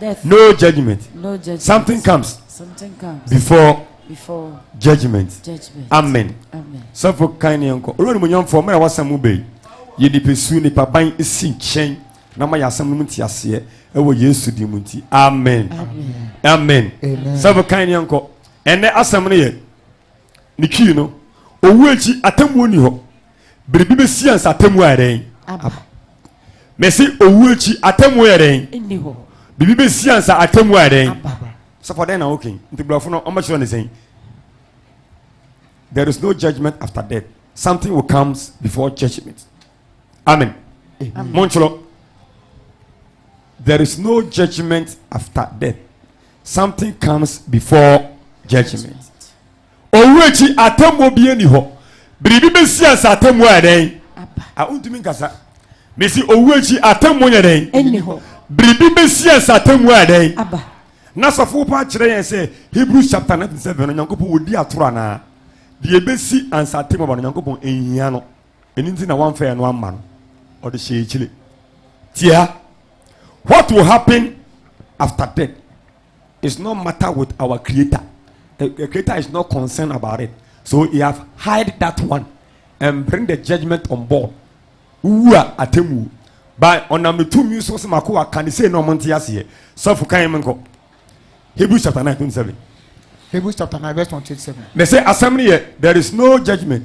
No judgment. No judgment. Something comes. Something comes. Before. Before. Judgment. Judgment. Amen. Amen. Sɔfo kan ne nkɔ. Olu animonyamfo mmerɛ wasɛm mu bɛyi. Yɛ nipa su nipa ban si nkyɛn na ma yɛ asɛm no mu nti aseɛ ɛwɔ Yesu di mu nti. Amen. Amen. Amen. Sɔfo kan ne nkɔ. Ɛnɛ asɛm no yɛ. ne twii no owu akyi atemmuo ni hɔ biribi bɛsi ansa atemmuo ayɛ dɛn mɛsi owu akyi atemmuo yɛ dɛn biribi bɛsi ansa atemmuo ayɛ dɛn sɔfɔ dɛn na woke nti borɔfo no ɔmɛkyerɛ ne sɛn there is no judgment after death something will comes before judgment amen montwerɛ there is no judgment after death something comes before judgment owu akyi atemmuo bi ani hɔ biribi bɛsi ansa atemmuo ayɛ dɛn a wontumi nkasa mesi owu akyi atemmuo nyɛ dɛn biribi bɛsi ansa atemmuo ayɛ dɛn na sɔfo pa kyerɛ yɛn sɛ hebrews chapter 9 7 no nyankopɔn wɔdi atoro anaa deɛ ɛbɛsi ansa atemmuo ba no nyankopɔn ɛnhia no ɛno nti na wamfa ɛno amma no ɔde hyɛ akyire tia what will happen after death is not matter with our creator the, the creator is not concerned about it so he have hide that one and bring the judgment on board wowu a atemu by ɔnam ne tumi so sɛ mako aka ne sei na ɔmo nte aseɛ sɔfo kan mu nkɔ hebrews chapter nine twenty seven. hebrews chapter nine verse twenty seven. mɛ sɛ asɛm no yɛ there is no judgment.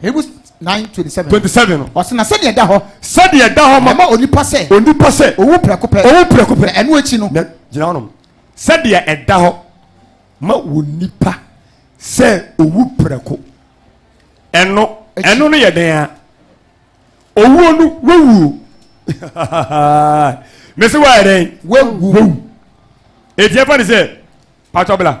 Hebrews nine twenty seven. twenty seven no. ɔsɛ na sɛdeɛ ɛda hɔ. sɛdeɛ ɛda hɔ ma. ɛma onipa sɛ. onipa sɛ. owu prɛko pɛ. owu prɛko pɛ. na ɛno akyi no. na gyina hɔnom. sɛdeɛ ɛda hɔ ma onipa sɛ owu prɛko. ɛno ɛno no yɛ dɛn a owuo no wawuo mese wayɛ dɛn wawu ɛtiɛ fa ne sɛ patɔbla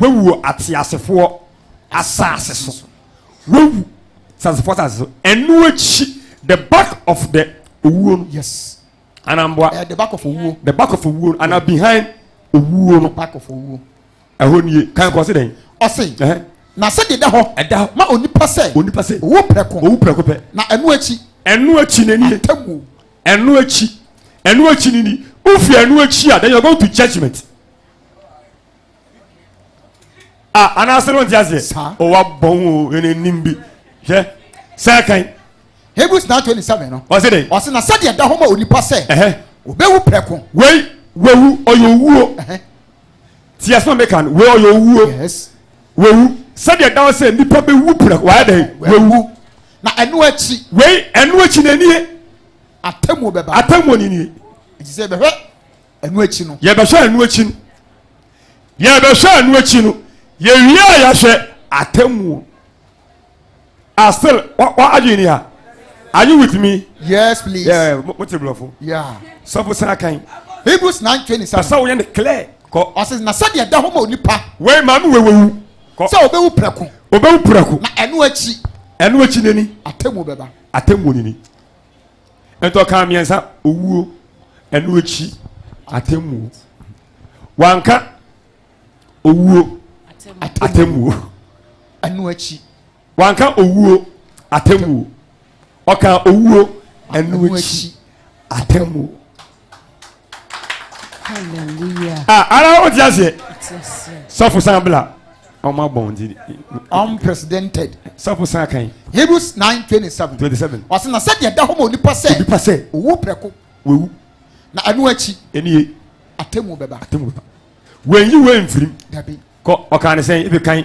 Wawu wɔ ateasefoɔ asase so. Wawu teasefoɔ asase so. Ɛno akyi, the back of the owuo no, yes. Anamboa. Eh, the back of owuo. The back of owuo no, ana behind owuo no. The back of owuo. Ɛhɔ nie, kan kɔ se dɛn? Ɔse, na sɛ de da hɔ. Ɛda hɔ. Ma onipa sɛ. Onipa sɛ. Owu prɛko. Owu prɛko pɛ. Na ɛno akyi. Ɛno akyi na nie. Atamuo. Ɛno akyi. Ɛno akyi ni ni. Wofi ɛno akyi a, then you are going to judgment. a anaasɛ no nte aseɛ Saa. o wabɔ ho o ɛna nim bi hwɛ sɛ kan hebrews 927 no ɔse dɛn ɔse na sɛdeɛ ɛda hɔ ma onipa sɛ ɛhɛ ɔbɛwu prɛko wei wawu ɔyɛ owuo Ɛhɛ. ti asɛm a meka no wei ɔyɛ owuo yes wawu sɛdeɛ ɛda hɔ sɛ nnipa bɛwu prɛko wayɛ dɛn wawu na ɛno akyi wei ɛno akyi na nie atemmuo bɛba atammuo ne nie nti sɛ yɛbɛhwɛ ɛno akyi no yɛbɛhwɛ ɛno akyi no yɛbɛhwɛ ɛno akyi no yɛwie a yɛhwɛ atemmuo a still adwene ni ha are you with me. yes please. Yeah, mo ti bulɔfo. yeah. sɔfo san kan. hebrews nine twenty seven. pasa wo yɛn de clear. kɔ. ɔsi na sɛdeɛ da ho ma onipa. wei maame wei wewu. kɔ sɛ obewu prɛko. obewu prɛko. na ɛno akyi. ɛno akyi nani. atemmuo bɛba. atemmuo nini. ɛntɔ kan mmiɛnsa owuo ɛno akyi atemmuo wanka owuo atemmuo ɛno akyi wanka owuo atemmuo ɔka owuo ɛno akyi atemmuo. Ah, ara o ti aseɛ. Sɔfo san bila. Ɔmo abɔ wɔn ti. Unprecedented. Sɔfo san kan. Hebrews nine twenty seven. Twenty seven. Ɔsɛ na sɛ deɛ da hɔ ma onipa sɛ. Onipa sɛ. Owu prɛko. Wewu. Na ɛno akyi. Ɛni ye. Atemu bɛba. Atemu bɛba. Wɛnyi wɛn nfirim. Dabi. Kɔ ɔkan ne sɛn ebi kan.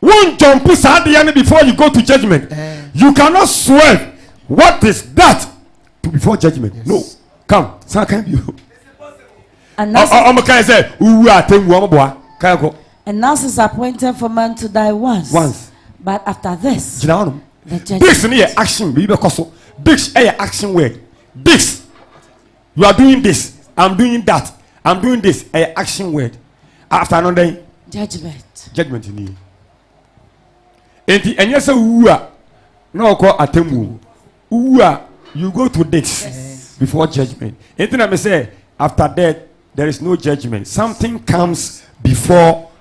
Won jump saa adeɛ no before you go to judgment. You cannot swerve what is that to before judgment. Yes. No. Come. Saa kan bi. Ɔmo kan sɛ wuwu a tɛngu ɔmo boa. Kan kɔ. And now is appointed for man to die once. Once. But after this. Gyina hɔ nom. The judgment. This no yɛ action. Bibi bɛ kɔ so. This ɛyɛ action word. This. you are doing this i'm doing that i'm doing this ɛyɛ action word after no dɛn judgment judgment ni nti ɛnyɛ sɛ wowu a na ɔkɔ atemmuo wowu a you go to this yes. before judgment nti na me sɛ after death there is no judgment something comes before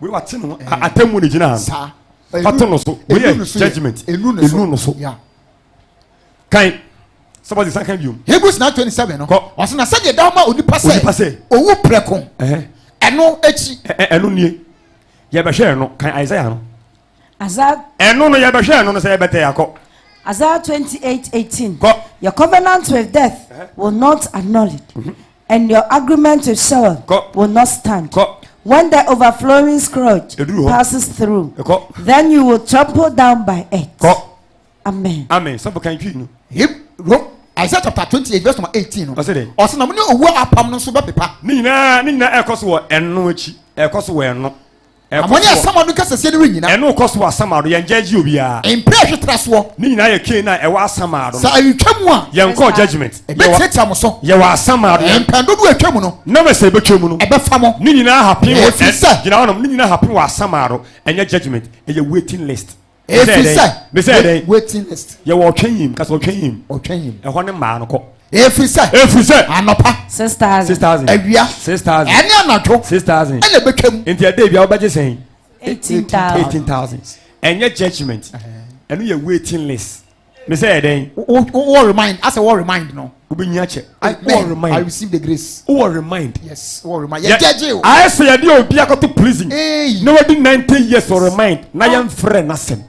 wei wate no atemmu ne gyina ha no wate no so wei yɛ judgment ɛnu no so kan sɛbɔde san kan biom hebrews 9:27 no ɔsɛ na sɛdeɛ da ma onipa sɛ ɔwu prɛko ɛno akyi ɛno nie yɛbɛhwɛ ɛno kan isaiah no Ɛno no, yɛbɛhwɛ ɛno no sɛ yɛbɛtɛ akɔ. Isaiah 28 18. Kɔ. Your covenant with death uh -huh. will not acknowledge, mm -hmm. and your agreement with Sheol Kɔ. will not stand. Kɔ. When the overflowing scourge passes through, Kɔ. then you will trample down by it. Kɔ. Amen. Amen. Sọ́fọ̀ kan twi nu. Isaiah chapter twenty eight verse number eighteen no. Ọ̀sẹ̀ dẹ̀. Ọ̀sẹ̀ na mo ní owó apam no nso bẹ́ẹ̀ pepa. Ní nyinaa ní nyinaa ẹ̀kọ́ so wọ ẹnu ẹ̀kọ́ so wọ ẹnu. Ɛkɔ Amonya soɔ. Samado nkasasiɛ no rennyina. Ɛno rekɔ so wɔ Asamado, yɛn gyɛɛgye obiara. Mpere ɛhwe tra soɔ. Ne nyinaa yɛ Canaan a ɛwɔ Asamado no. Sɛ ɛretwa mu a. Yɛn kɔɔ judgement. Yɛwɔ, Mɛtiatia mo so. yɛwɔ Asamado, yɛn. Mpɛn dodoɔ a ɛtwa mu no. Na me sɛ ɛbɛtwa mu no. Ɛbɛfa mo. Ne nyinaa happen wɔ, Ɛfiri ɛ, sɛ. gyina hɔnom, ne nyinaa happen wɔ Asamado, ɛnyɛ judgement, ɛyɛ waiting list. efisɛ mesɛ dɛn waiting list yɛwɔ ɔtwɛn yim kasa ɔtwɛn yim ɔtwɛn yim ɛhɔ ne mmaa no kɔ efisɛ efisɛ anɔpa six thousand six thousand awia six thousand ɛne anadwo six thousand ɛna ebɛtwam nti ɛdɛ ebia wobɛgye sɛn eighteen thousand eighteen thousand ɛnyɛ judgement ɛno yɛ waiting list me sɛ yɛ dɛn. wo wɔ remind asɛ wɔ remind no. wobɛnya kyɛ wɔ remind i receive the grace. wɔ remind. yes wɔ remind yɛ gyɛgye o. ayɛ sɛ yɛde obi akɔto prison. eyi na wadi ninety years wɔ remind na yɛn frɛ n'asɛm.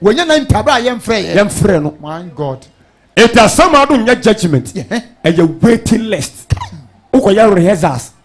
wɔnyɛ ninety abira yɛn frɛ yɛ. yɛn frɛ no. my god. eti asɛm adum nyɛ judgement ɛyɛ waiting list wokɔ yɛ rehearsals.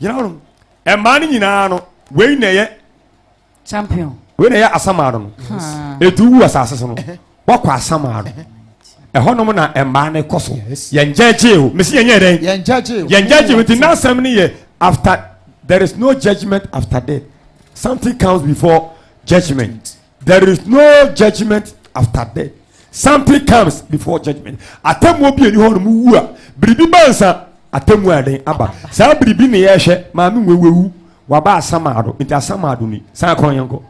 gyina hɔ no mmaa no nyinaa no wei na ɛyɛ champion wei na ɛyɛ asamaa no no edu wu asase so no wakɔ asamaa no ɛhɔnom na mmaa no kɔ so yɛn gyɛgye o mesi yɛn yɛ dɛn yɛn gyɛgye o yɛn gyɛgye o nti n'asɛm no yɛ after there is no judgement after death something comes before judgement. there is no judgment after death something comes before judgment atemmuo bi ɛni hɔ no mu wu a biribi ba nsa atemmuo a ɛdɛn aba saa biribi ne yɛhwɛ maame nwewewu waba asamaado nti asamaado ni saa kɔn yɛn kɔ.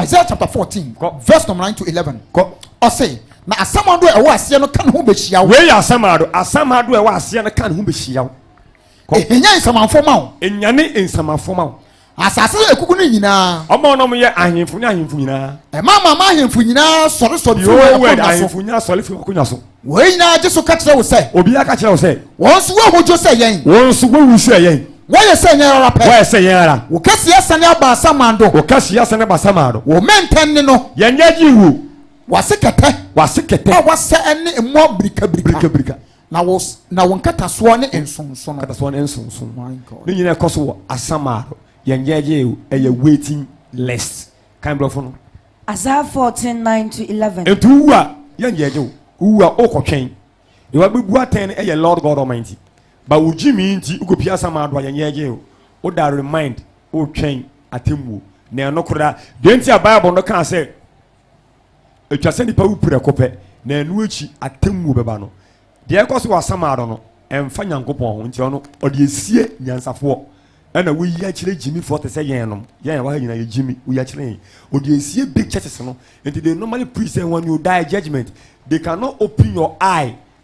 Isaiah chapter fourteen verse number nine to eleven kɔ ɔsɛ na asamaado a ɛwɔ aseɛ no ka ne ho bɛhyia wo. wei yɛ asamaado asamaado a ɛwɔ aseɛ no ka ne ho bɛhyia wo. ɛhɛnya nsamanfoɔ ma wo. ɛnyane nsamanfoɔ ma wo. Asase a ekuku no nyinaa. Ɔma ɔnom yɛ ahemfo ne ahemfo nyinaa. Ɛma ama ama ahemfo nyinaa sɔre sɔre fi wɔn akonnwa so. Ahemfo nyinaa sɔre fi wɔn akonnwa so. Wɔn nyinaa gye so ka kyerɛ wo sɛ. Obiara ka kyerɛ wo sɛ. Wɔn nso wɔahodwo sɛ yɛn. Wɔn nso wɔawu sɛ yɛn. Wɔyɛ sɛ yɛn ara pɛ. Wɔyɛ sɛ yɛn ara. Wo kɛseɛ asane aba asaman do. Wo kɛseɛ asane aba asaman do. Wo mmɛntɛn ne no. Yɛn nyɛ gye wuo. Wase kɛtɛ. Wase kɛtɛ. A wasɛ ne mmoa birikabirika. Birikabirika. Na wo na wo nkatasoɔ ne nsonsono. Nkatasoɔ ne nsonsono. My God. Ne nyinaa ɛkɔ so wɔ Asamaro. Yɛn gyɛɛgyɛ o, ɛyɛ waiting list. Kan brɔfo no. Isaiah 14, 9 to 11. Nti wowu a, yɛn gyɛɛgyɛ o. Wowu a, wokɔ twɛn. Deɛ wabɛbu atɛn no ɛyɛ Lord God Almighty. Ba wo gyimi nti, wokɔ pie Asamaro a, yɛn gyɛɛgyɛ o. Woda remind, wotwɛn atemmuo. Na ɛno koraa. Deɛ nti a Bible no kaa sɛ. Ɛtwa sɛ nnipa wu prɛko pɛ, na ɛno akyi atemmuo bɛba no. Deɛ ɛkɔ so wɔ Asamado no, ɛmfa Nyankopɔn ho, nti ɔno ɔde asie nyansafoɔ. Ɛna woyi akyerɛ gyimifoɔ te sɛ yɛn nom, yɛn ɛwɔ ha nyinaa yɛ gyimi, woyi akyerɛ yɛn. Ɔde asie big churches no, nti they normally preach sɛ when you die, judgement, they cannot open your eye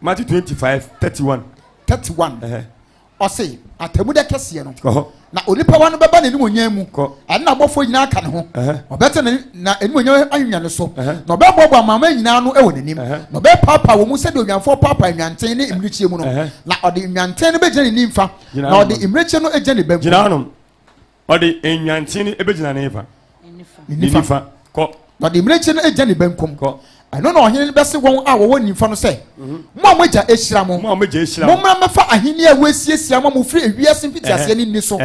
Matthew twenty five thirty one. thirty one. ɔse atamu da kɛseɛ no na onipa wa no bɛba n'animuonyam mu ɛne n'abɔfoɔ nyinaa aka ne ho ɔbɛte ne na animuonyam ahwehwɛ ne so na ɔbɛboaboa amanaman nyinaa no wɔ n'anim na ɔbɛpaapaa wɔn mu sɛdeɛ onwanfoɔ paapaa nnwanten ne mmirekyie mu no na ɔde nnwanten no bɛgyina ne nimfa na ɔde mmirekyie no agyina ne benkum ɔde nyanten no bɛgyina ne fa ne nifa kɔ na ɔde mmirekyie no agya ne benkum kɔ ɛno na ɔhene no bɛse wɔn a wɔwɔ nimfa no sɛ mhm. mo a moagya ahyira mo mommra mmɛfa ahenni a wɔasiesia ma mo firi ewiase mfitiaseɛ no nni so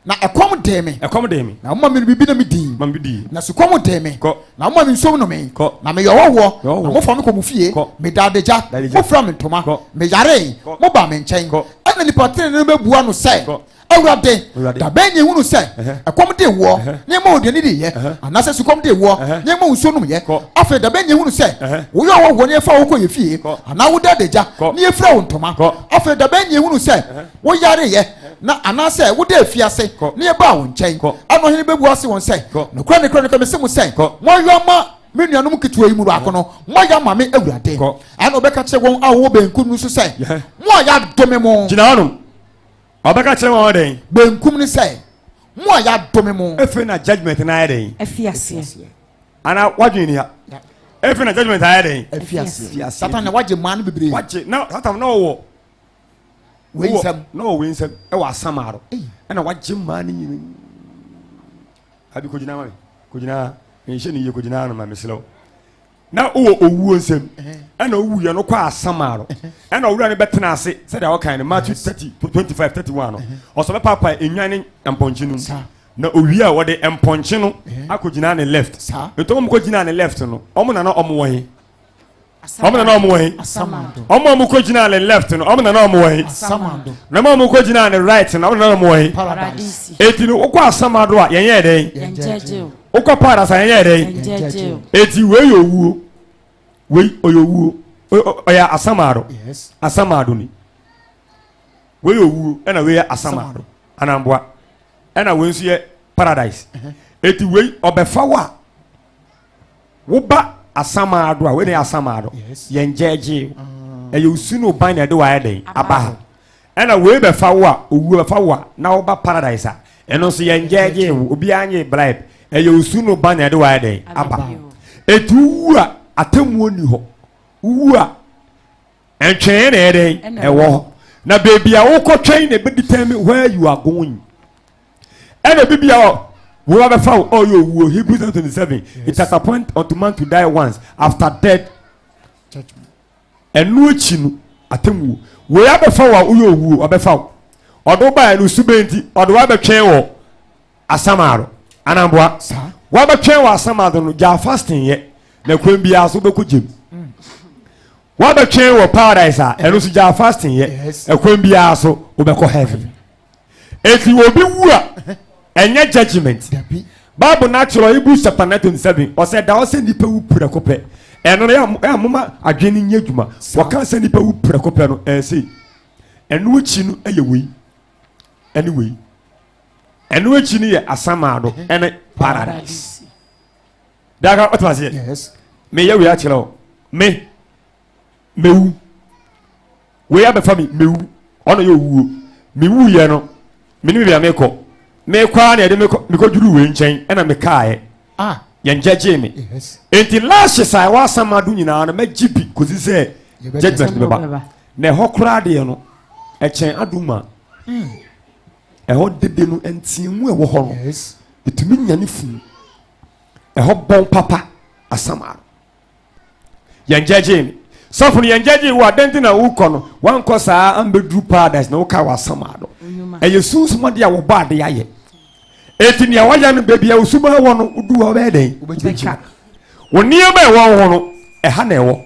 na ɛkɔm dee me ɛkɔm dee me na moma me biribi na medii ma medii na sukɔm dee me kɔ na moma me nsuom no me kɔ na meyɛ ɔhɔhoɔ na mofa me kɔ mo fie kɔ meda adagya mofira me ntoma meyaree moba me nkyɛn ɛna nipa tenene no bɛbua no sɛ awurade dabɛn ne ehunu sɛ ɛkɔm de woɔ ne ɛma oduane de yɛ anaasɛ sukɔm de woɔ ne ɛma nsuo nom yɛ afei dabɛn ne ehunu sɛ woyɛ ɔwɔ wɔ ne ɛfa wo kɔ yɛ fie anaa woda adagya ne efura wo ntoma afei dabɛn ne ehunu sɛ woyare yɛ na anaasɛ woda efi ase ne ɛbaa wo nkyɛn ɛna ɔhene bɛbu ase wɔn sɛ nokora nokora nokora mese mo sɛ moayɔ ama me nuanom ketewa yi mu baako no moayɛ ama me awurade ɛna ɔbɛka kyerɛ wɔn a wɔwɔ benkum no so sɛ mo a yɛadome mo gyina hɔnom Ɔbɛka kyerɛ wɔn dɛn? Benkum no sɛ, Mo a yɛadome mo. Efi na judgment no ayɛ dɛn? Afi aseɛ. Ana wadwene ni ha? Efi na judgment ayɛ dɛn? Afi aseɛ. Satan na wagye mmaa no bebree. Wagye na Satan na ɔwɔ wei nsɛm na ɔwɔ wei nsɛm ɛwɔ asamaaro ɛna wagye mmaa no nyina abi kogyina ma me kogyina nhyɛ ne yie kogyina no ma mesrɛ wo na wowɔ owuo nsam ɛna wowuiɛ no kɔ asamaro ɛna ɔwura no bɛtena ase sɛdeɛ wɔkan no matthew 30 25 31 no ɔsɛ bɛpaapae nnwan ne mpɔnkye no mu na owie a wɔde mpɔnkye no akɔgyina ne left nti ɔmo kɔgyina ne left no ɔmo nana ɔmo wɔ he ɔmo nana ɔmo wɔ he ɔmo ɔmo kɔgyina ne left no ɔmo nana ɔmo wɔ he na ɔmo ɔmo kɔgyina ne right no ɔmo nana ɔmo wɔ he eti no wokɔ asamado a yɛnyɛ dɛn wokɔ paradise a ɛnyɛ dɛn eti wei yɛ owuo wei ɔyɛ owuo ɔyɛ asamaado asamaado ni wei yɛ owuo ɛna wei yɛ asamaado anamboa ɛna wei nso yɛ paradise eti wei ɔbɛfa wo a woba asamaado a wei na yɛ asamaado yɛn gyɛɛgyee ɛyɛ osunu ban na ɛde wayɛ dɛn aba ha. Ɛna wei bɛfa wo a, owuo bɛfa wo a, na woba paradise a, ɛno nso yɛngyɛɛgyee wo, obiara nyee bribe, ɛyɛ osu no ba na ɛde wo ayɛ dɛn? Aba. Enti wowu a, atemmuo nni hɔ, wowu a, ntweneeɛ na ɛyɛ dɛn? Ɛwɔ hɔ. Na baabi a wokɔtwɛn na ɛbɛdetermine where you are going. Ɛna bi bia hɔ, wo ba bɛfa wo, ɔyɛ owuo, Hebrews 10:27, it is appointed unto man to die once, after death, Ɛno akyi no, atemmuo. Wei abɛfa wo a woyɛ owu o, ɔbɛfa wo. Ɔde wo baeɛ no, su bɛn nti? Ɔde wo abɛtwɛn wɔ Asamado, Anamboa. Wabɛtwɛn wɔ Asamado no, gyaa fasting yɛ, na kwan biara so wobɛkɔ gyam. Wabɛtwɛn wɔ Paradise a, ɛno nso gyaa fasting yɛ, ɛkwan biara so wobɛkɔ heaven. Eti obi wu a, ɛnyɛ judgement. Dabi. Bible no akyerɛ hɔ, Hebrews chapter 9 27, ɔsɛ ɛda hɔ sɛ nnipa wu prɛko pɛ. Ɛno no, yɛ a moma adwene no nyɛ adwuma. Saa. Wɔka sɛ nnipa wu prɛko pɛ no, ɛyɛ sei. Ɛno akyi no yɛ wei, ɛne wei. Ɛno akyi no yɛ asamaado, ɛne paradise. Daka, ɔte aseɛ? Yes. Meyɛ wei akyerɛ wo. Me. Mewu. Wei abɛfa me, mewu. Ɔno yɛ owuo. Mewuiɛ no, menim baabi a mekɔ. Mekɔ ara na yɛde me mekɔduru wei nkyɛn ɛna mekaeɛ. Ah, yɛn gyɛgyee me. Yes. Enti lashes a ɛwɔ asamado nyinaa no mɛgye bi kɔsi sɛ judgment no bɛba. Na ɛhɔ koraa deɛ no, ɛkyɛn adom a hmm. ɛhɔ dede no nteamu ɛwɔ hɔ no, ɛtumi nyane funu. Ɛhɔ bɔn papa asamado. yɛn gyɛgyee no sɔfo no yɛn gyɛgyee wo adan ti na wokɔ no wankɔ saa ambɛduru paradise na woka w'asama no ɛyɛ sunsum ade a wɔbɔ ade ayɛ ɛti nea wɔyɛ no baabi a wosuma wɔ no wodu hɔ bɛyɛ dɛn wobɛgyina wo nneɛma ɛwɔ wo ho no ɛha na ɛwɔ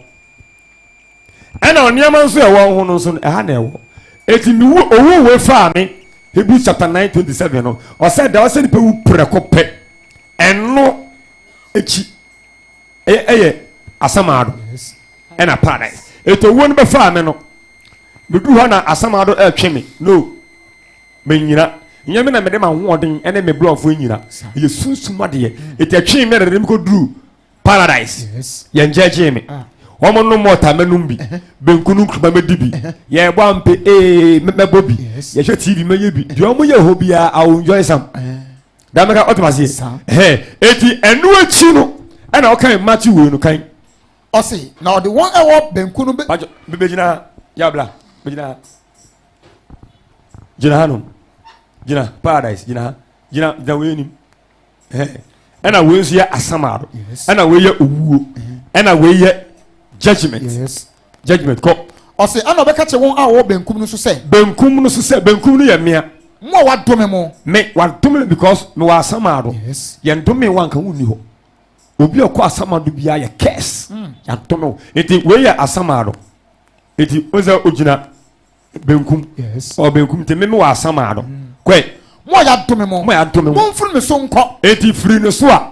ɛna nneɛma nso ɛwɔ wo ho no nso ɛha na ɛwɔ ɛti ne owu wei faa me Hebrews chapter 9 27 no ɔsɛ da ɔsɛ nipa wu prɛko pɛ ɛno akyi ɛyɛ asamaado ɛna paradise ɛti owuo no bɛfaa me no medu hɔ na asamaado ɛtwe me no menyina nyɛ me na mede ma hoɔden ɛne me brɔfoɔ nyina ɛyɛ sunsum adeɛ ɛti ɛtwe me ɛdede mekɔduru paradise yɛn gyɛgyee me ah. wɔn nom mɔta mɛnom bi benku no nkuruma mɛdi bi yɛbɔ ampe ee mɛbɔ bi yɛhwɛ tv mɛyɛ bi deɛ wɔn yɛ hɔ biara i will enjoy some. Eh. dame ka ɔtɛm aseɛ ɛhɛn eti ɛno akyi no ɛna ɔkan matthew wei no kan ɔse na ɔde wɔn ɛwɔ benku no bɛgyina be, be, ha yabla bɛgyina ha gyina ha nom gyina paradise gyina ha gyina gyina wei anim ɛna wei nso yɛ asamaado ɛna wei yɛ owuo ɛna wei yɛ judgement yes. Judgement, kɔ. Ɔse, ɛna ɔbɛka kyerɛ wɔn a wɔwɔ benkum no so sɛ. Benkum no so sɛ, Benkum no yɛ mmea. Mo a wɔadome mo. Me, wɔadome me because mewɔ asamado. Yes. Yɛndomee wo anka wonni hɔ. Obi a ɔkɔ asamado biara yɛ curse. Mm. Yɛadome wo. Nti wei yɛ asamado. Nti o sɛ ogyina benkum. Yes. Ɔ benkum nti me mewɔ asamado. Mm. Kɔe. Mo a yɛadome mo. Mo a yɛadome mo. Momfiri me so nkɔ. Enti firi ne so a.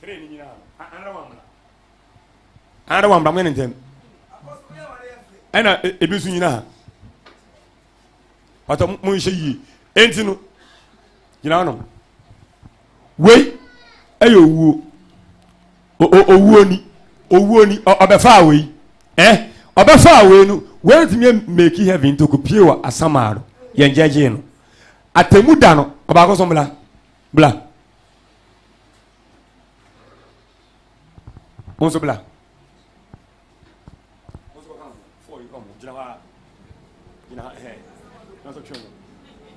Hene ni nyinaa no. Anara wambra. Anara wambra mo ne ntɛm. Ɛna ebi nso nyina ha. Pata mo nhyɛ yie. Enti no gyina no. Wei ɛyɛ owuo. Owuo ni. Owuo ni. Ɔbɛfaa wei. Eh? Ɔbɛfaa wei no. Wei ntumi meki heaven ntoko pie wɔ asamaa no. Yɛn gyɛgyee no. Atemu da no. Ɔbaako so mbla. Bla. Wo nso bla.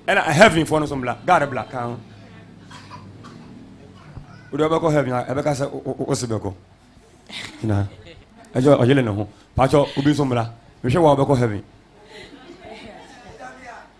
ɛna heaven foɔ no so mbla god bla ka ho wode wobɛkɔ heaven a ɛbɛka sɛ wose bɛkɔ na ɛgyɛ ɔyele ne ho pakyɛ obi nso mbla mehwɛ wa wobɛkɔ heaven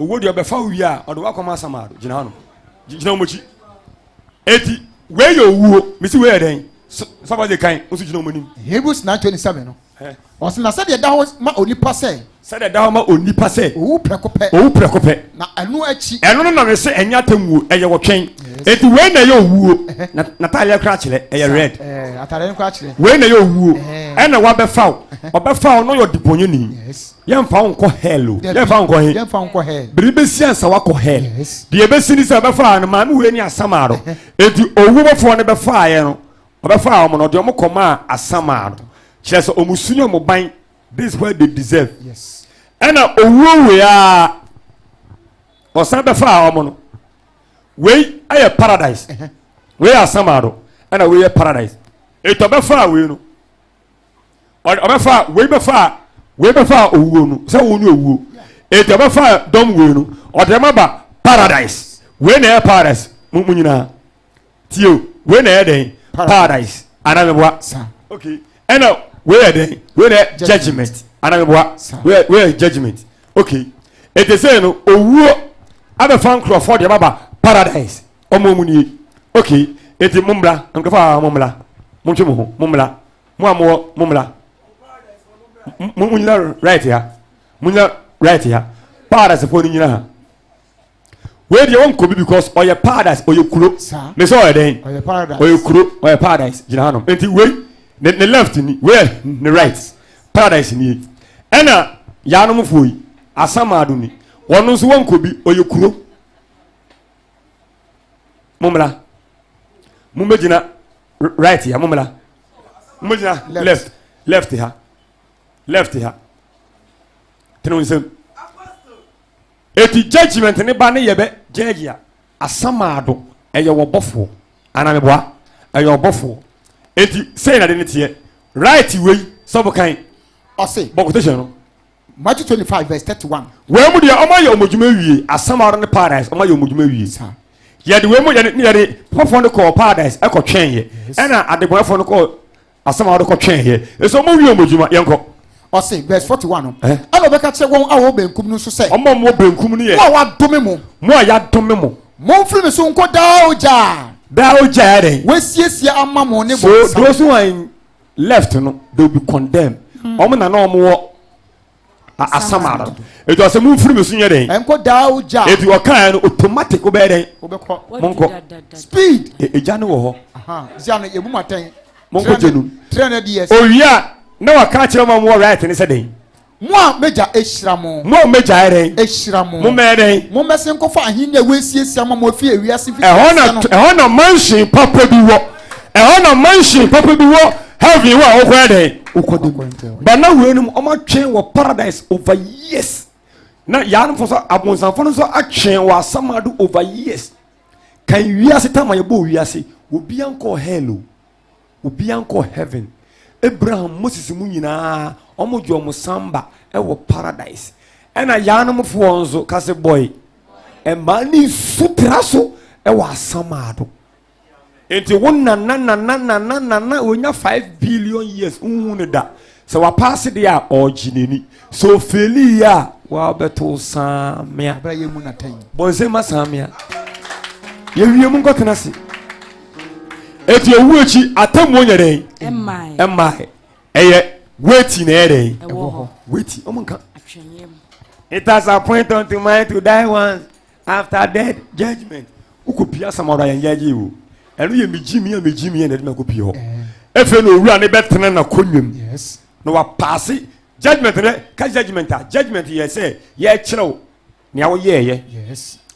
Owuo deɛ ɔbɛfa wo wie a ɔde wakɔ ma asamaa do gyina hɔ nom gyina wɔn akyi eti wei yɛ owuo mesi wei yɛ dɛn sɔfo de kan nso gyina wɔn anim. Hebrews nine twenty seven no ɔsɛ na sɛdeɛ ɛda hɔ ma onipa sɛ. sɛdeɛ ɛda hɔ ma onipa sɛ. owu prɛko pɛ. owu prɛko pɛ. na ɛno akyi. ɛno no na me se ɛnyɛ atemmuo ɛyɛ wɔtwɛn eti wei na ɛyɛ owuo na n'ataadeɛ koraa kyerɛ ɛyɛ red ataadeɛ koraa kyerɛ wei na ɛyɛ owuo ɛna wabɛfa wo ɔbɛfa wo na ɔyɛ ɔdebɔnyɛni yɛmfa wo nkɔ hell o yɛmfa wo nkɔ he yɛmfa wo nkɔ hell bere bɛsi ansa wakɔ hell deɛ ɛbɛsi ne sɛ ɛbɛfaa no maame wei ne asamaa no enti ɔwu bɔfoɔ no bɛfaeɛ no ɔbɛfaa wɔn no ɔde wɔn kɔmaa asamaa no kyerɛ sɛ wɔn su ne wɔn ban this is what they deserve ɛna owuo wei a ɔsan bɛfaa wɔn no wei ayɛ paradise wei yɛ asamaa no ɛna wei yɛ paradise eti ɔbɛfaa wei no ɔbɛfa wei bɛfa wei bɛfa owuo no sɛ wo ne owuo eti ɔbɛfa dɔm wei no ɔde ɛma ba paradise wei na ɛyɛ paradise mo mo nyinaa tie o wei na ɛyɛ dɛn paradise anamibua okay ɛna wei yɛ dɛn wei na ɛyɛ judgement anamibua wei yɛ judgement okay eti sɛ no owuo abɛfa nkurɔfoɔ de ɛma ba paradise. ɔmo mu nie ok eti mo mmla nkurɔfo a mo mmla mo ntwe mo ho mo mmla mo a mo wɔ mo mmla mo mo nyina right ha mo nyina right ha paradise fo no nyina ha wei deɛ wɔn kɔbi because ɔyɛ paradise ɔyɛ kuro mesɛ ɔyɛ dɛn ɔyɛ kuro ɔyɛ paradise gyina hanom nti wei ne ne left ni wei yɛ ne right paradise nie ɛna yaanom foɔ yi asamaado ni wɔn nso wɔn kɔbi ɔyɛ kuro. mommra mommɛgyina right ha mommra mommɛgyina left left ha left ha tene wo nsam ɛti judgment ne ba ne yɛbɛ judge a asamaado ɛyɛ wɔbɔfoɔ anameboa ɛyɛ ɔbɔfoɔ ɛti sɛi na de ne teɛ right wei sɛ bokan ɔse bɔ quotation no Matthew twenty five verse thirty one. Wei mu deɛ ɔmo ayɛ ɔmo adwuma awie asɛm ara ne paradise ɔmo ayɛ ɔmo adwuma awie saa yɛde wei mu yɛde ne yɛde pɔpɔfoɔ no kɔɔ paradise ɛkɔ twɛn yɛ ɛna adebɔnɛfoɔ no kɔɔ asɛm ara kɔ twɛn yɛ ɛsɛ ɔmo wie ɔmo adwuma yɛn kɔ. ɔse verse forty one no eh? ɛna ɔbɛka kyerɛ wɔn a wɔwɔ benkum no nso sɛ ɔmo a wɔwɔ benkum no yɛ mo a wɔadome mo mo a yɛadome mo mo mfiri me so nkɔ daa ogya daa ogya yɛ dɛn wɔasiesie ama mo ne bɔnsam so those who are in left no they will be condemned wɔn hmm. na na wɔn wɔ asama no etu ase mu nfiri mi so nyɛ dɛn ɛnkɔ daa o gya etu ɔkan no automatic o bɛyɛ dɛn mo nkɔ speed e, egya no wɔ hɔ zia no ebu ma tɛn mo nkɔ gyenu owia na waka akyerɛ wɔn a wɔn wɔ right ne sɛ dɛn. Mo a m'agya ahyira mo. Mo a m'agya ayɛ dɛn. Ahyira mo. Mommɛyɛ dɛn. Mommɛsen nkɔfa ahenni a wɔasiesie ama mo afi ewiase mfitiase no. Ɛhɔ na ɛhɔ na mansion papa bi wɔ. Ɛhɔ na mansion papa bi wɔ heaven hɔ a wokɔyɛ dɛn. Wokɔ de mu. Ba na wei nom ɔmo atwɛn wɔ paradise over years. Na yaanfo nso abonsamfo no nso atwɛn wɔ asamado over years. Kan wiase tam a yɛbɔɔ wiase, obiara nkɔɔ hell o. Obia nkɔ heaven Abraham Moses mu nyinaa ɔmo gye ɔmo samba ɛwɔ paradise ɛna yaanom foɔ nso kase bɔe mmaa ne nsu tra so ɛwɔ asamaado nti wo nana nana nana nana onya five billion years nhu ne da Sɛ wapaase deɛ a, ɔregye n'ani. Sɛ ofeeli yɛ a, wabɛto saa mmea. Abira yɛ mu na tɛn. Bɔnsɛn ma saa mmea. Yɛwie mu nkɔtena se. Eti owu akyi atemmuo nyɛ dɛn? Mmae. Ɛyɛ weti na ɛyɛ dɛn? Ɛwɔ hɔ. Weti. Ɔmo nka. It has appointed unto man to die once. after death judgment wokɔ pie asɛm ɔdɔ ayɛnyɛ agye o ɛno yɛ megye mi a megye mi a na ɛde mɛkɔ pie hɔ ɛfei na owura ne bɛtena na kɔnwam na wapaase judgment dɛ ka judgment a judgment yɛ sɛ yɛkyerɛw nea woyɛɛyɛ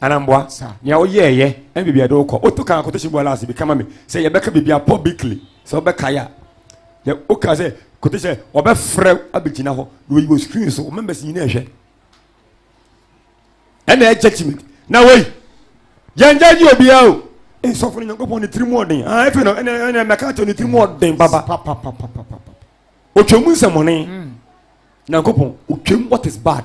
anamboa nea woyɛɛyɛ ɛne biribi a ɛde wokɔ woto kan akɔtɔ hyɛ bu alaase bi kama me sɛ yɛbɛka biribi a publicly sɛ wobɛkae a na woka sɛ kote sɛ wɔbɛfrɛ abɛgyina hɔ na wɔyi wɔ screen so wo members nyina ɛhwɛ ɛna ɛkyɛ timi na wei yɛngya gye obiara o nsɔfo no nyankopɔn ne tiri mu ɔden ɛfɛ no ɛna mɛka kyɛ ne tiri mu ɔden papa ɔtwa mu nsɛmɔne hmm. nyankopɔn ɔtwam what is bad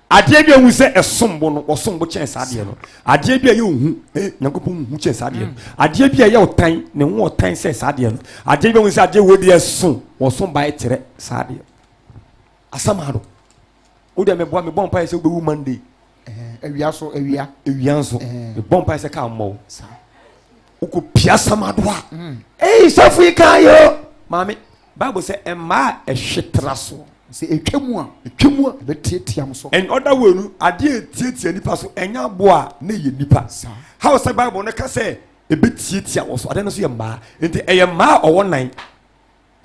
adeɛ bi a hu sɛ ɛsom bo no ɔsom bo kyɛn saa adeɛ no adeɛ bi a yɛ ohu eh nyankopɔn hu kyɛn saa adeɛ no hmm. adeɛ bi a yɛ ɔtan ne ho ɔtan sɛ saa adeɛ no adeɛ bi a hu sɛ adeɛ wɔ bi ɛso ɔsom ba ɛkyerɛ saa adeɛ Asɛm a no. Wo deɛ meboa mebɔ mpaeɛ sɛ wobɛwu Monday. Awia so awia. Awia nso mebɔ mpaeɛ sɛ kaa mmɔ wo. Wokɔ pia asɛm ado a. Mm. Ei sɔfo yi kaa yɛ o. Maame Bible sɛ mmaa a ɛhwe tra soɔ. Sɛ ɛtwa mu a. Ɛtwa mu a. Ɛbɛtiatia mo so. In other way no adeɛ ɛtiatia nipa so ɛnyɛ aboa a na ɛyɛ nipa. How sɛ Bible no ka sɛ ɛbɛtiatia wɔ so adeɛ no so yɛ mmaa nti ɛyɛ mmaa a ɔwɔ nan.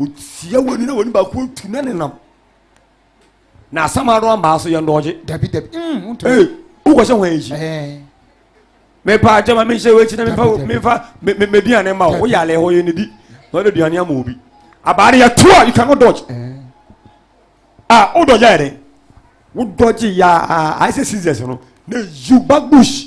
Otia w'ani na w'ani baako ntu na nenam. Na asɛm ano ambaa so yɛ ndɔɔgye. Dabi dabi. Mm, wontumi. Ee, wokɔhyɛ ho akyi. Ɛɛ. Mepa agya ma menhyɛ w'akyi na mefa Dabi, dabi. mefa me- me- m'aduane ma wo. Dabi. Woyɛ alɛ hɔ yɛ nidi. Na wode aduane ama obi. Abaa no yɛto a, you cannot dodge. Ɛɛ. Ah, wo dodge ayɛ dɛn? Wo dodge ya ayɛ sɛ scissors no. Na you back bush.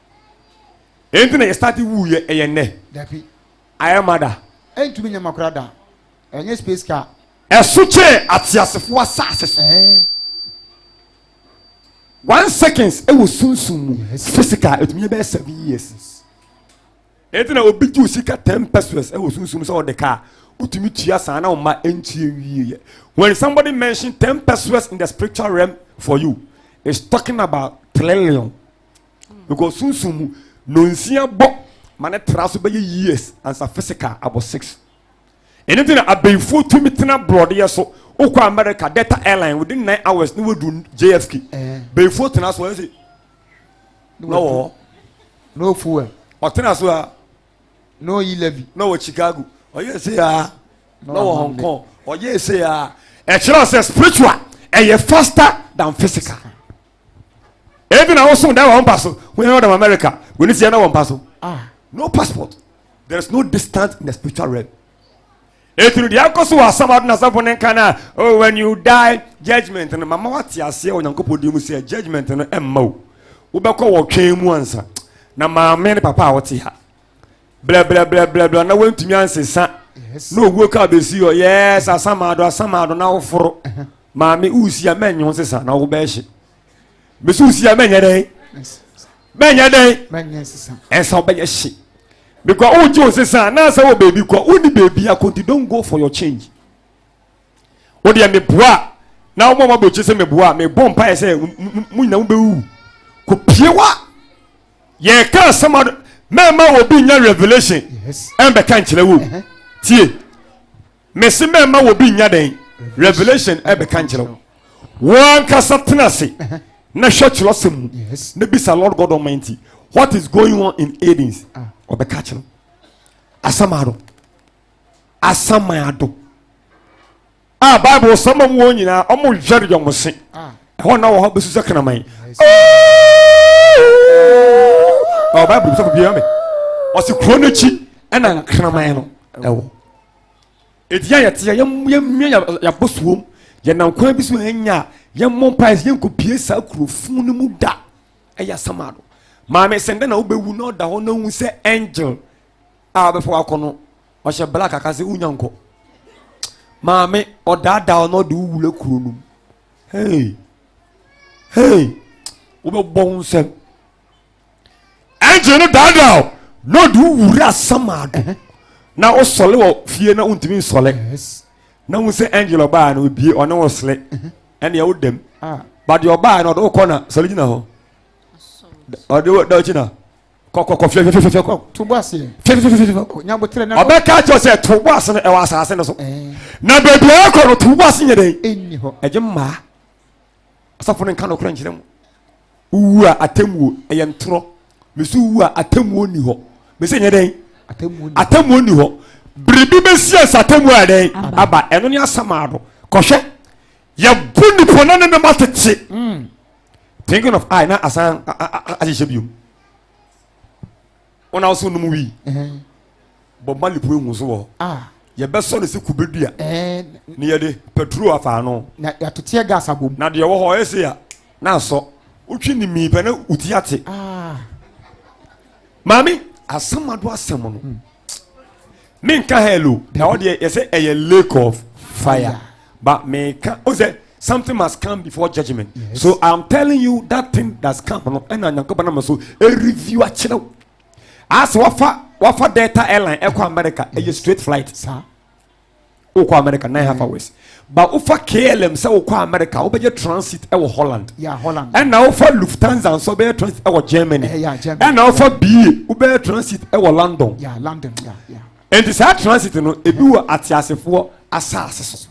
ɛnti na yɛstarte wuiɛ ɛyɛ nnɛ dabi ayɛ ma da ɛntumi nyɛ ma kora da ɛnyɛ space car ɛso kyɛɛ ateasefoɔ asase so ɛɛ one seconds ɛwɔ sunsum mu physical ɛtumi bɛyɛ seven years ɛnti na obi gye osika ten pesos ɛwɔ sunsum sɛ ɔde kaa wotumi tua saa na ɔma ɛntie wieɛ when somebody mention ten pesos in the spiritual realm for you is talking about trillion because sunsun mu nonsia bɔ ma ne tra so bɛyɛ years ansa physical abɔ six ɛno nti na abɛnfuo tumi tena borɔdeɛ so wokɔ america delta airline within nine hours ne wadu jfk eh. bɛnfuo tena so ɛsɛ na wɔ hɔ no fuel ɔtena so a no yi levy na wɔ chicago ɔyɛ ɛsɛ a na wɔ hong kong ɔyɛ ɛsɛ a ɛkyerɛ sɛ spiritual ɛyɛ faster than physical ebi na woso da wɔn mpa so wɔn yɛn ɔdɔm america wɔn si ɛna wɔn mpa so ah. no passport there is no distance in the spiritual realm etunu deɛ akɔ so wɔ asam ado na asafo ne nka na oh when you die judgement no mama wate aseɛ wɔ nyankopɔn di mu sɛ judgement no ɛmma o wobɛkɔ wɔ twɛn mu ansa na maame ne papa a wɔte ha blɛblɛblɛblɛblɛ na wantumi ansesa na owuo ka bɛsi hɔ yɛs asamaado asamaado na woforo maame wosia mɛnye ho sesa na wobɛhye mesi wosia mɛnyɛ dɛn mɛnyɛ dɛn ɛnsa wobɛyɛ hye because wogye wo sesa na sɛ wɔ baabi kɔ wonni baabi akɔnti don go for your change wo deɛ meboa a na wɔn a wɔabɔ akyi sɛ meboa a mebɔ mpaeɛ sɛ mo nyina mobɛwu kɔpie wa yɛka asɛm ado mɛma wɔ bi nya revelation ɛmbɛka nkyerɛ wo tie mese mɛma wɔ bi nya dɛn revelation ɛbɛka nkyerɛ wo wɔankasa tena ase na hwɛ kyerɛ sɛ mu na bisa lord god almighty what is going on in aidens ɔbɛka kyerɛ asɛm ado asaman ado a bible sɛ ma wɔn nyinaa wɔn yɛre yɔn se ah. ɛhɔ na wɔ hɔ bɛsi sɛ kraman ɔ bible sɛ bia me ɔse kuro no akyi ɛna nkraman no ɛwɔ ɛdi a yɛteɛ yɛmmia yɛabɔ suom yɛnam kwan bi so hanya a yɛmmɔ mpae sɛ yɛnkɔpie saa kurofun no mu da ɛyɛ asaman ado maame sɛ ndɛ na wobɛwu na ɔda hɔ na hu sɛ angel a wabɛfa wakɔ no ɔhyɛ black aka sɛ wonya nkɔ maame ɔdaadaa ɔno ɔde wo wura kuro no mu hey hey wobɛbɔ ho nsɛm ɛngye no daadaa o na ɔde wo wura samaa do na wosɔle wɔ fie na wontumi nsɔle na wo sɛ angel ɔbaa no obie ɔne wo sele ɛneɛ wo dɛm ah. badeɛ ɔbaa no ɔde wokɔ na sɔle gyina hɔ ɔde wo da ɔkyina kɔkɔkɔ fififififɛ kɔ. to bɔ aseɛ fififififɛ kɔ nya botere na. ɔbɛka akyerɛ sɛ to bɔ ase no ɛwɔ asase no so na baabi a ɛkɔ no to bɔ ase nyɛ dɛ. ɛnni hɔ ɛgye mmaa asafo no nka nokorɛ nkyerɛ mu wowu a atemmuo ɛyɛ ntorɔ mesu wu a atemmuo nni hɔ mesɛ nyɛ dɛn atemmuo nni hɔ biribi bɛsi asa atemmuo a dɛn aba ɛno ne asamaado kɔhwɛ yɛbu nipa na ne ne ma tete mm. thinking of i na asan ahyehyɛ bio wọn a wɔsɛ nom wii bɔ mali pue hu so wɔ ah. yɛbɛsɔ no sɛ kube dua ne yɛde petro afa ano na yɛatoteɛ gas abom na deɛ wɔ hɔ ɔyɛ se a na asɔ wotwe ne mii pɛ na woti ate ah. maame asɛm ado asɛm no hmm. menka hell o na wɔdeɛ yɛsɛ ɛyɛ lake of fire but meka o sɛ something must come before judgment yes. so i'm telling you that thing that's come no ɛna nyankopɔn nam so ɛreview akyerɛw asɛ wafa wafa delta airline ɛkɔ america ɛyɛ yes. straight flight Sa? wokɔ america nine half hours ba wofa klm sɛ wokɔ america wobɛyɛ transit ɛwɔ holland ɛna wofa lufthansa nso wobɛyɛ transit ɛwɔ germany ɛna wofa bie wobɛyɛ transit ɛwɔ london ɛnti saa transit no ebi wɔ ateasefoɔ asase so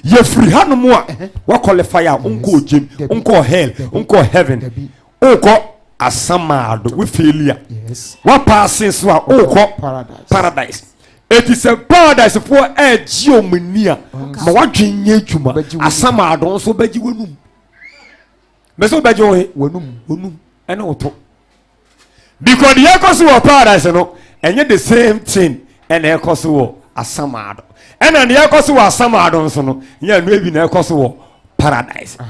yɛfiri hanom a woakɔlefai a wonkɔɔ gyem wonkɔɔ hell wonkɔɔ heaven wokɔ asamaa do wo faili a woapaase nso a wokɔ paradise ɛti sɛ paradisefoɔ ɛregye ɔm ani a ma woadwen nyɛ adwuma asamaa do nso wobɛgye w'anum mɛ sɛ wobɛgye wo he w'anum ɛne wo to because deɛ ɛkɔ so wɔ paradise no ɛnyɛ the same thing ɛna ɛkɔ so wɔ asamaa do ɛna deɛ ɛkɔ so wɔ asamaa do nso no nyɛ ɛno ebi na ɛkɔ so wɔ paradise. Ah.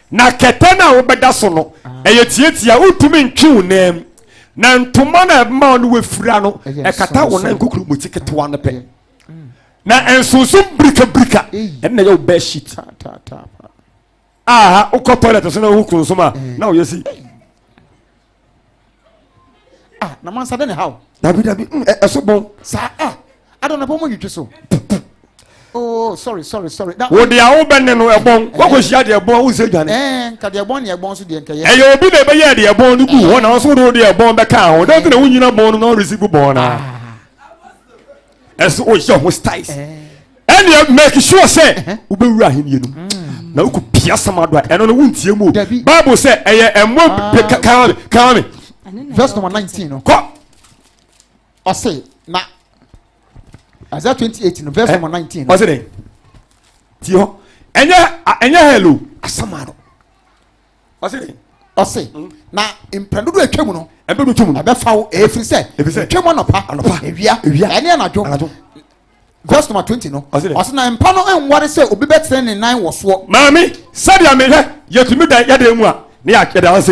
Na kɛtɛ no a wobɛda so no, ɛyɛ tiatia a wontumi ntwe wo nan mu. Na ntoma no a ɛbɛma wo ne wafira no, ɛkata wo nan kokuroboti ketewa no pɛ. Na nsonsom birikabirika ɛno na ɛyɛ wo bed sheet. Aha, wokɔ toilet so na wohu kronsom a, na woyɛ si. ah na mansa dɛ ne haw dabi dabi mm, ɛ- ɛso bɔn saa ah adɔ na bɔ mu nwitwi so oh sorry sorry sorry da wo deɛ a wobɛne no ɛbɔn woakɔhyia deɛ ɛbɔn a wonsɛ dwane ɛɛ nka deɛ bɔn ne ɛbɔn so deɛ nkɛyɛ ɛyɛ obi na ɛbɛyɛɛ deɛ ɛbɔn no guu hɔ na wo so wode wo deɛ ɛbɔn bɛkaa ho dɛn nti na wonyina bɔn no na woresi gu bɔn no a ɛsɛ woyɛ ho styles ɛneɛ make sure sɛ wobɛwura ahenniɛ no mu na wokɔ pia sɛm ado a ɛno no wontie mu o bible sɛ ɛyɛ ɛmmɔ kame kame verse number 19 no kɔ ɔse na Isaiah 28 no verse number 19 no ɔse dɛn tie hɔ ɛnyɛ ɛnyɛ hell o asɛm ado ɔse dɛn ɔse mm. na mpɛn dodo atwa mu no ɛbɛ do twam no ɛbɛfa wo ɛfiri sɛ ɛtwa mu anɔpa anɔpa ewia ewia ɛne anadwo anadwo verse number twenty no ɔse na mpa no nware sɛ obi bɛtene ne nan wɔ soɔ maame sɛdeɛ mehwɛ yɛtumi da yɛda mu a ne yɛda ase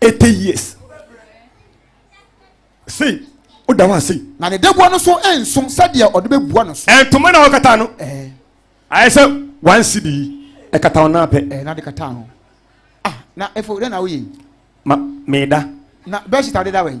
eighty years sei woda hɔ ase na ne daboa no so nso sɛdeɛ ɔde bɛbua no so ɛntoma na ɔkata no ayɛ sɛ one cd ɛkata wo naa pɛ na de kata ho ah na ɛfo dɛ na woyɛ ma meda na bɛhyita de da wɛn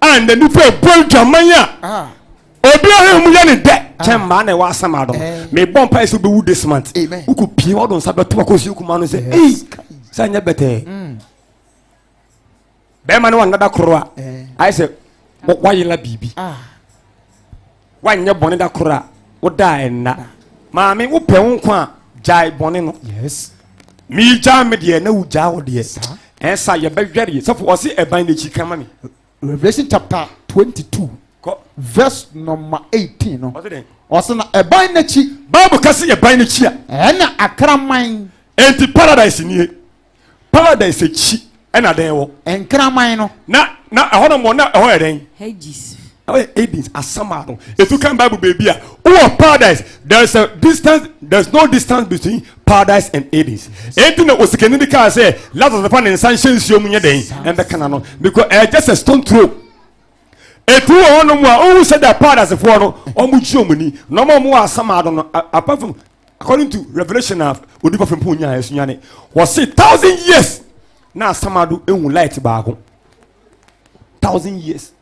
a na nipa ɛbɔ adwaman a obi ɔhɛ mu yɛ ne dɛ kyɛ mmaa na ɛwɔ asɛm adɔ mebɔ mpa ɛsɛ wobɛwu this month wokɔ pie wɔdo nsa bɛto akɔsi kuma no sɛ ei sɛ nyɛ bɛtɛɛ mm. bɛrima ne wanada koro a ayɛ sɛ wayela biribi ah. Woanyɛ bɔne da koro a, wo da a ɛnna. Maame, wopɛ wo nkwa a, gyae bɔne no. Yes. Megyaa me deɛ na wogyaa wo deɛ. Saa. Ɛnsa yɛbɛhwɛ deɛ sɛfo ɔse ɛban n'akyi ka ma me. Revelation chapter 22 Kɔ. verse number 18 no. Ɔse dɛn? Ɔse na ɛban n'akyi. Bible ka se ɛban n'akyi a. Ɛna akraman. Enti paradise nie. Paradise akyi ɛna dɛn wɔ. Nkraman no. Na na ɛhɔ nom na ɛhɔ yɛ dɛn. Hades. Ɛhɔ yɛ Hades asama no. Etu kan Bible beebi a wowɔ paradise there is a distance there is no distance between paradise and Hades. Eti na osikani bi kaa sɛ Lazarus fa ne nsa nhyɛ nsuo mu nyɛ dɛn ɛnbɛ kana no because ɛyɛ just a stone throw. Eti wɔ hɔ nom a ohun sɛ dɛ paradisefoɔ no wɔn gye wɔn ni na wɔn a wɔn wɔ asama no no apart from according to revelation na odipa fempɔn nyaa ɛsunya ne wɔse thousand years na asamado ehu light baako thousand years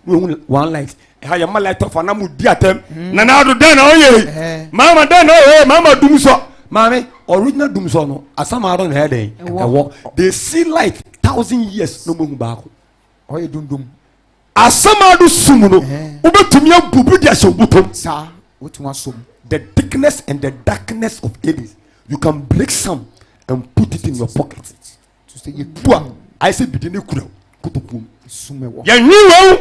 na ehu one light ɛha yɛ ma light of anam di atɛm hmm. na na ado dɛn na ɔyɛ yi eh. maama dɛn na ɔyɛ maama dum sɔ maame original dum sɔ no asamado na ɛyɛ dɛn ɛwɔ they see light thousand years na ɔmo ehu baako ɔyɛ dundum. Asɛm a no sum no, wobɛtumi abu bi de ahyɛ wo bɔtɔm. Saa, wotumi asɔ mu. The thickness and the darkness of Hades, you can break some and put it in your pocket. To sɛ yɛtu a, ayɛ sɛ bidi ne kura wo kotokuom. Sum ɛwɔ. Yɛnwe wei,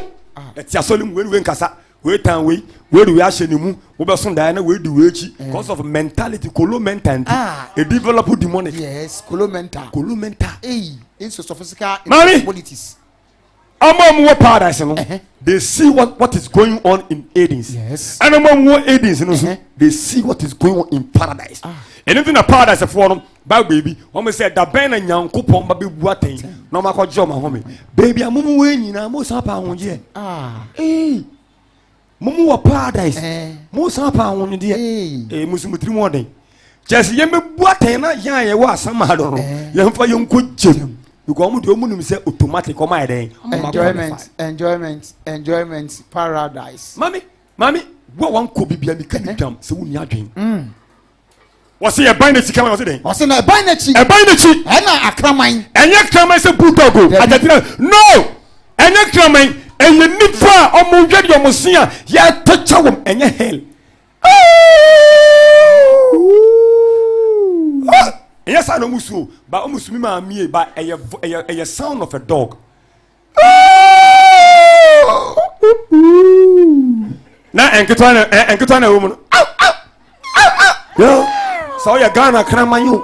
ɛte asɔ ne mu, wei ne wei nkasa, wei tan wei, wei de wei ahyɛ ne mu, wobɛso daeɛ na wei di wei akyi, because of mentality, kolo mental nti, e develop demonic. Yes, kolo mental. Kolo mental. Ei, it's a sophisticated Mami. politics. Ɔmo a wɔwɔ paradise no, they see what, what is going on in Hades. Yes. And ɔmo a wɔwɔ Hades no nso, they see what is going on in paradise. Ah. Ɛno nti na paradise foɔ no, Bible baabi, wɔn sɛ da bɛn na Nyankopɔn ba bɛbu atɛn na wɔn akɔgye wɔn ahome. Baabi a mo mu wɔ nyinaa, mo san pa ahogyeɛ. Ah. Hey. mo mo wɔ paradise mo san pa ahonyedeɛ ee mo nso mo tiri mu ɔden kyɛ sɛ yɛmɛbu atɛn na yɛn a yɛwɔ asam ha no no yɛmfa yɛnkɔ gyem because wɔn deɛ wɔn nim sɛ automatic wɔn ayɛ dɛn wɔn enjoyment enjoyment enjoyment paradise. mami mami wo a wankɔ bibia mi ka mi dam sɛ wo ni adwene. wɔsi ɛban n'akyi kan wɔsi dɛn. wɔsi na ɛban n'akyi. ɛban n'akyi. ɛna akraman. ɛnyɛ kraman sɛ bulldog o agyatira no ɛnyɛ kraman ɛyɛ nifa a wɔn yɛ deɛ wɔn si a yɛtɔ kyɛ wɔn ɛnyɛ hell ɛnyɛ saa na wɔn su o ba wɔn su mi maa mie ba ɛyɛ ɛyɛ ɛyɛ sound of a dog. na nketewa na eh, nketewa na ɛwɔ mu no sɛ ɔyɛ ghana kraman yi o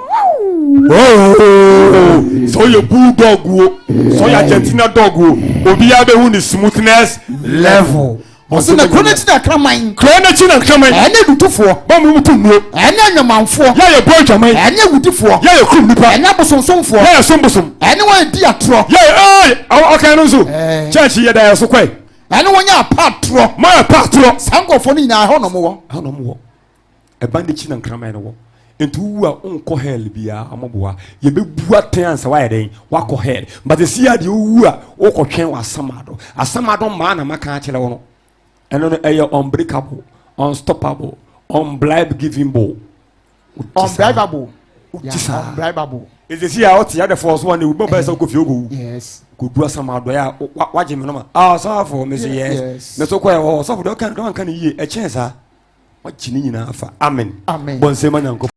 sɛ ɔyɛ bull dog o sɛ ɔyɛ argentina dog o obiara bɛhu ne smoothness level Ɔse na kuro no akyi na nkraman. Kuro no akyi na nkraman. Ɛne adutofoɔ. Bɔ mu to nnuo. Ɛne anwamanfoɔ. Yɛ a yɛbɔ adwaman. Ɛne awudifoɔ. Yɛ a yɛkum nnipa. Ɛne abosomsomfoɔ. Yɛ a yɛsom bosom. Ɛne wɔn a yɛdi atorɔ. Yɛ a ɛy ɔkan no nso. Kyɛnkye yɛda yɛn so kɔe. Ɛne wɔn a yɛpa atorɔ. Mo a yɛpa atorɔ. Saa nkurɔfoɔ no nyinaa ɛhɔ na wɔwɔ. Ɛhɔ na wɔwɔ. ɛba n'akyi na nkraman no wɔ nti wowu a wonkɔ hell biaa ɔmoboa yɛbɛbu atɛn ansa woayɛ dɛn woakɔ hell but ɛsi a deɛ wowu a wokɔtwɛn wɔ asamado asamado mmaa na maka akyerɛ wo no ɛno no ɛyɛ unbreakable unstoppable unblibegivingable unbribable unbribable Esisi a ɔte adefo so ane wubɔ mpae sɛ wokɔ fie wokɔwu. Kodu asam adɔe a wagye me no ma. Ah, ɔsɔfo, me se yes. Me so kɔɛ hɔ. Ɔsɔfo de ɔka no wanka no yie. Ɛkyɛn saa. Wagye ne nyinaa afa. Amen. Bɔ nsɛm ma Nyankopɔn.